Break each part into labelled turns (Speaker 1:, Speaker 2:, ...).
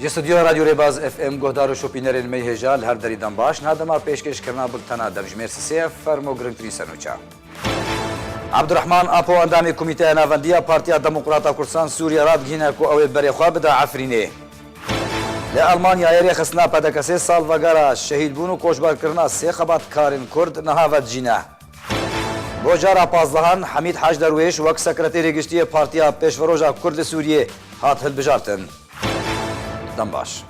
Speaker 1: Ji stûdyoya Radyo Rêbaz FM guhdar û şopînerên me hêja li her derî dan baş. Niha dema pêşkêşkirina bultena demjimêr sisê ye, fermo girngtirîn sernoça. Abdurehman Apo endamê Komîteya Navendî ya Partiya Demokrata Kurdistan Sûriyê radgihîne ku ew ê berê xwe bide Efrînê. Li Elmanyayê rêxistina PDK sê salvegera şehîdbûn û koçberkirina sê xebatkarên Kurd niha vedicîne. Bo cara pazdehhan Hemîd Haj Derwêş wek Sekreterê Giştî yê Partiya Pêşveroja Kurd li Sûriyê hat hilbijartin. Dem baş.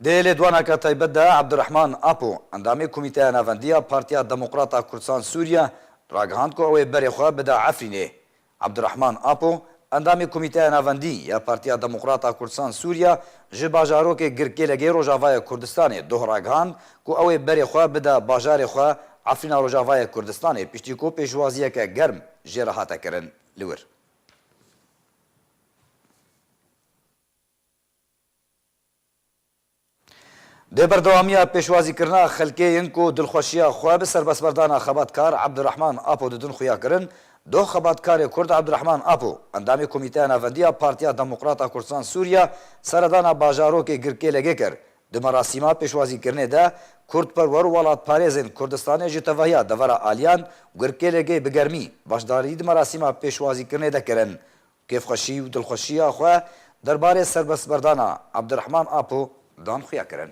Speaker 1: Di lêdwaneke taybet de Abdurehman Apo, endamê Komîteya Navendiya Partiya Demokrat a Kurdisan Sûriye ragihand ku ew ê berê xwe bide Efrînê. Abdurehman Apo, endamê Komîteya Navendî ya Partiya Demokrat a Kurdisan Sûriye ji bajarokê Girkêlegê Rojavayê Kurdistanê doh ragihand ku ew ê berê xwe bide bajarê xwe Efrîna Rojavayê Kurdistanê piştî ku pêşwaziyeke germ jê re hate kirin li wir. Di berdewamiya pêşwazîkirina xelkê yên ku dilxweşiya xwe bi serbestberdana xebatkar Abdurahman Apo didin xuya kirin, doh xebatkarê Kurd Abdurahman Apo, endamê Komîteya Navendiya Partiya Demokrata Kurdistan Sûriye seredana bajarokê Girkêlegê kir. Di merasîma pêşwazîkirinê de kurdperwer û welatparêzên Kurdistanê ji tevahiya devera aliyan Girkêlegê bi germî beşdarî di merasîma pêşwazîkirinê de kirin Kêfxweşî û dilxweşiya xwe derbarê serbestberdana Abdirehman Apo dan xuyakirin.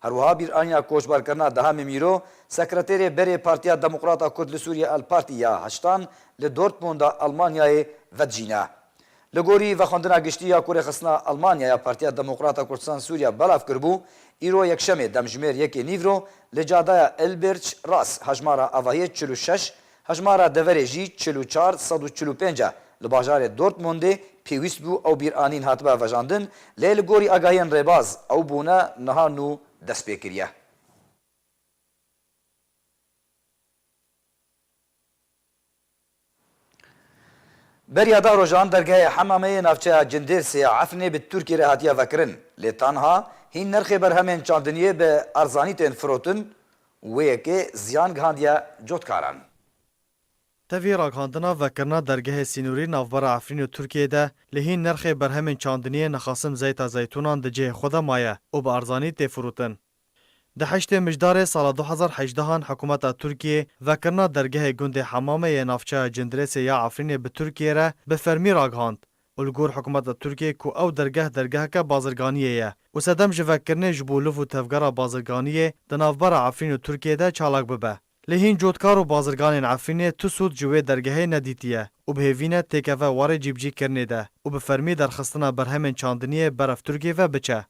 Speaker 1: Her wiha bîraniya koçbarkirina Dehemê Mîro, sekreterê berê Partiya Demokrata Kurd li Sûriyê El Parti ya Heştan li Dortmunda Elmanyayê vedijîne. Li gorî vexwendina giştî ya ku rêxistina Elmanya ya Partiya Demokrata Kurdistan Sûriya belav kiribû, îro Yekşemê demjimêr yekê nîvro li cadaya Ilbirç Ras hejmara avahiyê çil û şeş Hejmara deverê jî çil û çar sed û çil û pênc e. Li bajarê Dortmundê pêwîst bû ew bîranîn hatibe vejandin, lê li gorî agahiyên rêbaz ew bûne niha nû dest pê kiriye. Beriya deh rojan dergehê Hemame yê navçeya Cindêrsê ya Efrinê bi Tirkî re hatiye vekirin, lê tenha hîn nirxê berhemên çandiniyê bi erzanî tên firotin û wê yekê ziyan gihandiye cotkaran.
Speaker 2: Tevî ragihandina vekirina dergehê sînorî navbera Efrîn û Tirkiyeyê de li hîn nirxê berhemên çandiniyê nixasim zeyta zeytûnan di cihê xwe de maye û bi erzanî tê firotin. Di heştê mijdarê sala du hezar hejdehan hikûmeta Tirkiyê vekirina dergehê gundê Hemame yê navçeya Cindirêsê ya Efrînê bi Tirkiyê re bi fermî ragihand û li gor hikûmeta Tirkiyeyê ku ew dergeh dergeheke bazirganiyê ye û sedem ji vekirinê ji bo liv û tevgera bazirganiyê di navbera Efrîn û Tirkiyeyê de çalak bibe. Lê hîn cotkar û bazirganên Efrînê tu sûd ji wê dergehê nedîtiye û bi hêvî ne têkeve warê cîbicîkirinê de û bi fermî derxistina berhemên çandiniyê berf Tirkiyê ve biçe.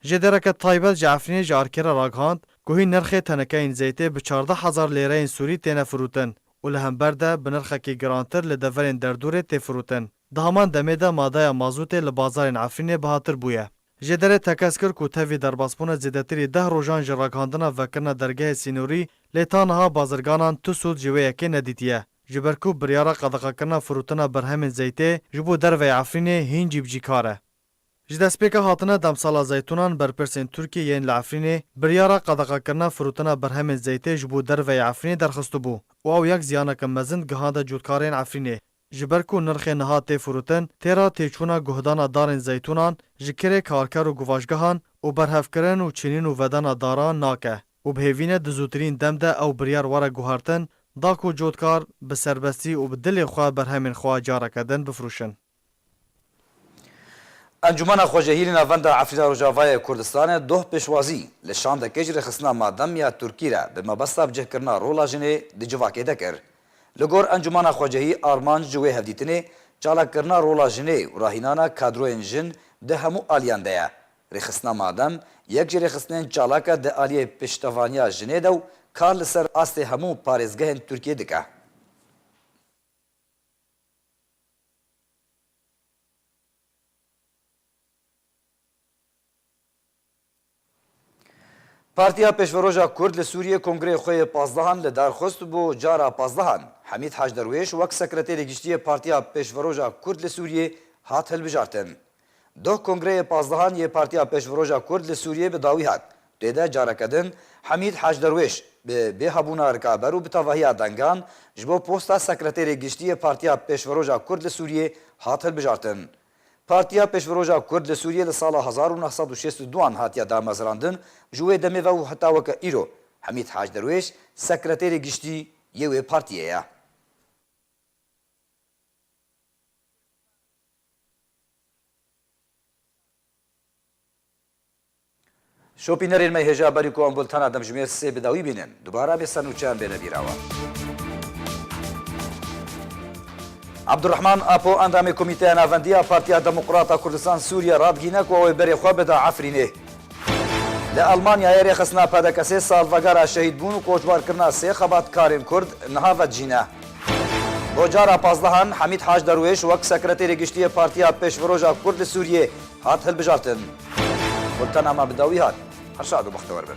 Speaker 2: Ji dereke taybet ji Efrînê ji ARK'ê re ragihand ku hîn nirxê tenekeyên zeytê bi çardeh hezar lêreyên sûrî têne firûtin û li hember de bi nirxekî girantir li deverên derdûrê tê firûtin. Di heman demê de madeya mazûtê li bazarên Efrînê bihatir bûye. Ji derê tekez kir ku tevî derbasbûne zêdetirî deh rojan ji ragihandina vekirina dergehê sînorî lê ta niha bazirganan tu sûd ji wê yekê nedîtiye. Ji ber ku biryara qedexekirina firûtina berhemên zeytê ji bo derveyê Efrînê hîn cîbicîkar e. Ji destpêka hatina demsala zeytûnan berpirsên Tirkiyê yên li Efrînê biryara qedexekirina firotina berhemên zeytê ji bo derveyê Efrînê derxistibû û ew yek ziyaneke mezin gihande cotkarên Efrînê ji ber ku nirxê niha tê firotin têra têçûna guhdana darên zeytûnan ji kirê karker û guvaşgehan û berhevkirin û çînîn û vedena daran nake û bi hêvîne di zûtirîn dem de ew biryar were guhertin da ku cotkar bi serbestî û bi dilê xwe berhemên xwe careke din bifirûşin.
Speaker 1: Encûmena Xwecehîlî Navenda Efrîna Rojavayê Kurdistanê doh pêşwazî li şandekê ji rêxistina Madem ya Tirkî re bi mebesta bicihkirina rola jinê di civakê de kir. Li gor encûmena xwecehî armanc ji wê hevdîtinê çalakirina rola jinê û rahînana kadroyên jin di hemû aliyan de ye. Rêxistina Madem yek ji rêxistinên çalak e di aliyê piştevaniya jinê de û kar li ser astê hemû parêzgehên Tirkiyê dike. Partiya Pêşveroja Kurd li Sûriyê kongreyê xwe yê pazdehan li dar xist bo cara pazdehan. Hemîd Hacderwêş wek Sekretêrê Giştî yê Partiya Pêşveroja Kurd li Sûriyê hat hilbijartin. Doh kongreyê pazdehan yê Partiya Pêşveroja Kurd li Sûriyê bi dawî hat. Tê de careke din Hemîd Hacderwêş bi bê hebûna rikaber û bi tevahiya dengan ji bo posta Sekreterê Giştî yê Partiya Pêşveroja Kurd li Sûriyê hat hilbijartin. Partiya Pêşveroja Kurd li Sûriyê li sala hezar û neh sed û şêst û du an hatiye damezrandin, ji wê demê ve û heta weke îro Hemîd Hacderwêş Sekreterê Giştî yê wê partiyê ye. Şopînerên me hêja berî ku em bultena demjimêr sê bi dawî bînin. Dubara bê sernûçe em bêne bîrawa. Abdurrahman Apo endamê Komîteya Navendî ya Partiya Demokrat a Kurdistan Sûriyê re digîne ku ew ê berê xwe bida Efrînê. Li Elmanyayê rêxistina PDK'ê salvegera şehîdbûn û koçbarkirina sê xebatkarên Kurd niha vedijîne. Rojara Pazdehan, Hemîd Hac Derwêş wek Sekreterê Giştî yê Partiya Pêşveroja Kurd li Sûriyê hat hilbijartin. Gultena me bi dawî hat. Her şad û bextewar bin.